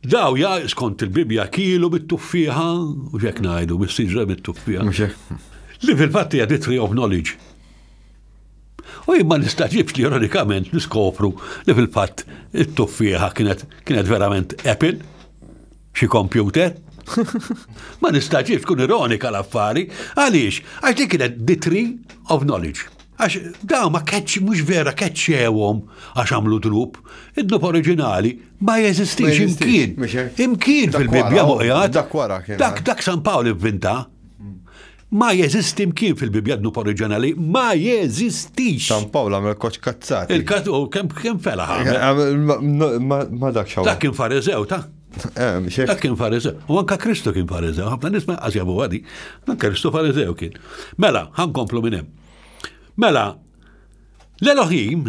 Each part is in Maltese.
Daw ja skont il-Bibja kielu bit-tuffieħa, u xek najdu, bis-siġra bit-tuffieħa. Li fil-fatti hija the tree of knowledge. U jimma nistaġibx li ironikament niskopru li fil-fatt it-tuffieħa kienet kienet verament Apple, xi kompjuter. Ma nistaġibx kun ironika l-affari, għaliex, għax li kienet the tree of knowledge. Għax daw ma keċ, mux vera keċċewom għax għamlu drup, id-dnub oriġinali Ma jeżistix imkien. Imkien fil-Bibbja muqjat. Dak wara kien. Dak eh? dak San Pawl ivvinta. Hmm. Ma jeżisti imkien fil-Bibbja dnub oriġinali, ma jeżistix. San Pawl għamel koċ kazzat. Il-kat u kem kem fela Ma dak xaw. Dak kien farizew ta' eh, Dak kien farizew. U anka Kristu kien farizew. Għabna nisma għazjabu għadi. Dan Kristu farizew kien. Mela, komplu minnem. Mela, l-Elohim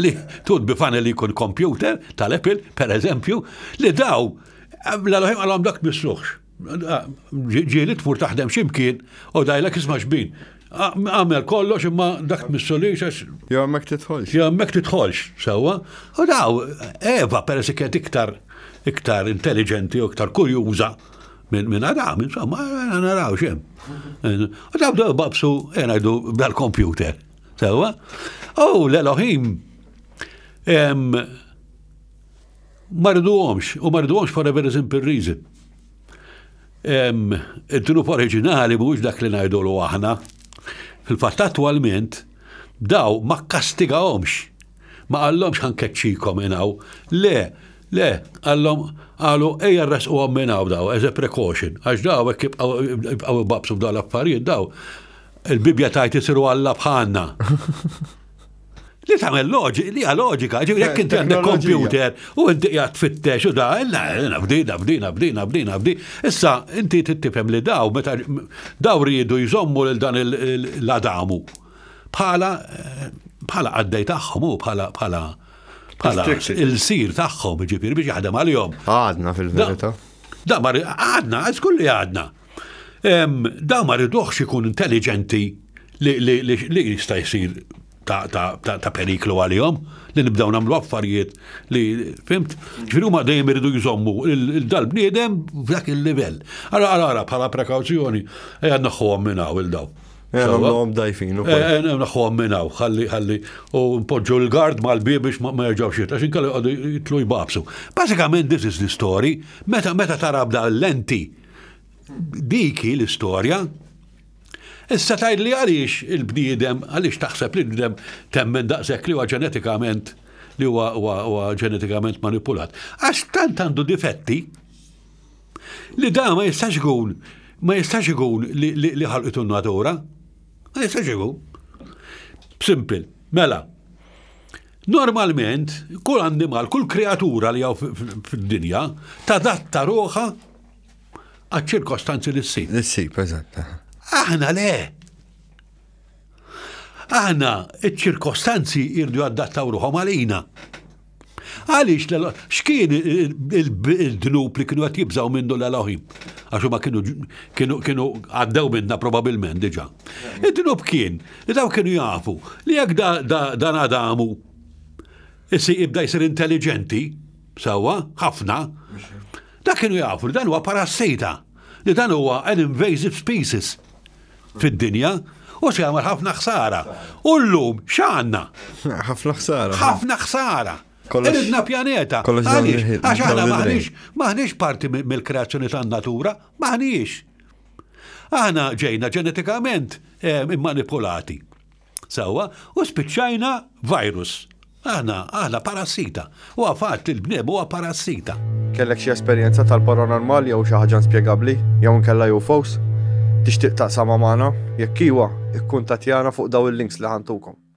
li tut bifana li jkun kompjuter tal-Apple, per eżempju, li daw l-għalħem għalhom dak misluħx. Ġieli tmur taħdem ximkien u dajlek isma' xbin. Għamel kollox imma dak missulix għax. Jo għammek titħolx. Jo għammek titħolx, sewa. U daw, Eva, per kienet iktar iktar intelligenti u iktar kurjuża minn min għadam, insomma, naraw xem. U daw daw babsu, jenajdu, dal-kompjuter. Sewa, u l-Elohim marduhomx, u marduhomx for a very simple reason. Id-dnub oriġinali mhux dak li ngħidulu aħna. Fil-fatt attwalment daw ma kastigahomx. Ma qallhomx ħankeċċikom inaw. Le, le, qallhom qalu ejja rresquhom minn hawn daw as a precaution, għax daw hekk jibqgħu babsu f'dawn l-affarijiet daw Il-Bibbja tgħid isiru Alla bħalna. Li tagħmel loġika, li loġika, ġifieri jekk inti għandek kompjuter u inti qiegħed tfittex u da, nafdi, nafdi, nafdi, nafdi, nafdi. Issa inti tittifhem li daw meta daw riedu jżommu lil dan l-Adamu bħala bħala għaddej tagħhom u bħala bħala bħala il-sir tagħhom ġifieri biex jaħdem għalihom. Għadna fil-verità. Da mar għadna, għax kulli għadna. Da ma riduħx ikun intelligenti li jista' jsir ta' periklu għalihom li nibdaw nagħmlu affarijiet li fimt, ġifieri huma dejjem iridu jżommu dal-bniedem f'dak il-livell. Ara ara ara bħala prekawzjoni ejja naħħuhom minn hawn il-daw. Għamlom dajfin. Naħħuhom minn hawn, ħalli ħalli u npoġġu l-gard mal-bieb biex ma jerġgħux jitla, xi kellu jitlu jbabsu. Bażikament this is the story, meta meta tara bda l-lenti Dik hi l-istorja. Issa tgħid li għaliex il-bniedem, għaliex taħseb li l-bniedem temmen daqshekk li huwa ġenetikament li huwa ġenetikament manipulat. Għax tant għandu difetti li da ma jistax ikun ma jistax ikun li ħalqitu n-natura. Ma jistax ikun. Simpil. Mela, Normalment, kull annimal, kull kreatura li għaw fid-dinja, tadatta ruħa għad ċirkostanzi li s-sib. L-sib, eżatt. Aħna le. Aħna iċ-ċirkostanzi irdu għaddattaw ruħom għalina. Għalix, xkien il-dnub li kienu għat jibżaw minn dolla l-oħim? Għaxu ma kienu għaddew minna probabilment diġa. Il-dnub kien Li dawn kienu jafu li jekk dan Adamu issi ibda jsir intelligenti, sewwa, ħafna, da kienu jafu li dan huwa parassita, li dan huwa an invasive species fid-dinja u se jagħmel ħafna ħsara. U llum x'għandna? Ħafna ħsara. Ħafna ħsara. Iridna pjaneta. Għax aħna maħniex parti mill-kreazzjoni tan-natura, maħniex. Aħna ġejna ġenetikament eh, immanipulati. Sawa, u spiċċajna virus. Aħna, aħna parassita. U għafat li l-bniem huwa parassita. Kellek xi esperjenza tal-paranormal jew xi ħaġa inspjegabbli jew nkella jew fos? Tixtieq taqsama magħna? Jekk iwa, ikkuntattjana fuq daw il-links li ħantukom.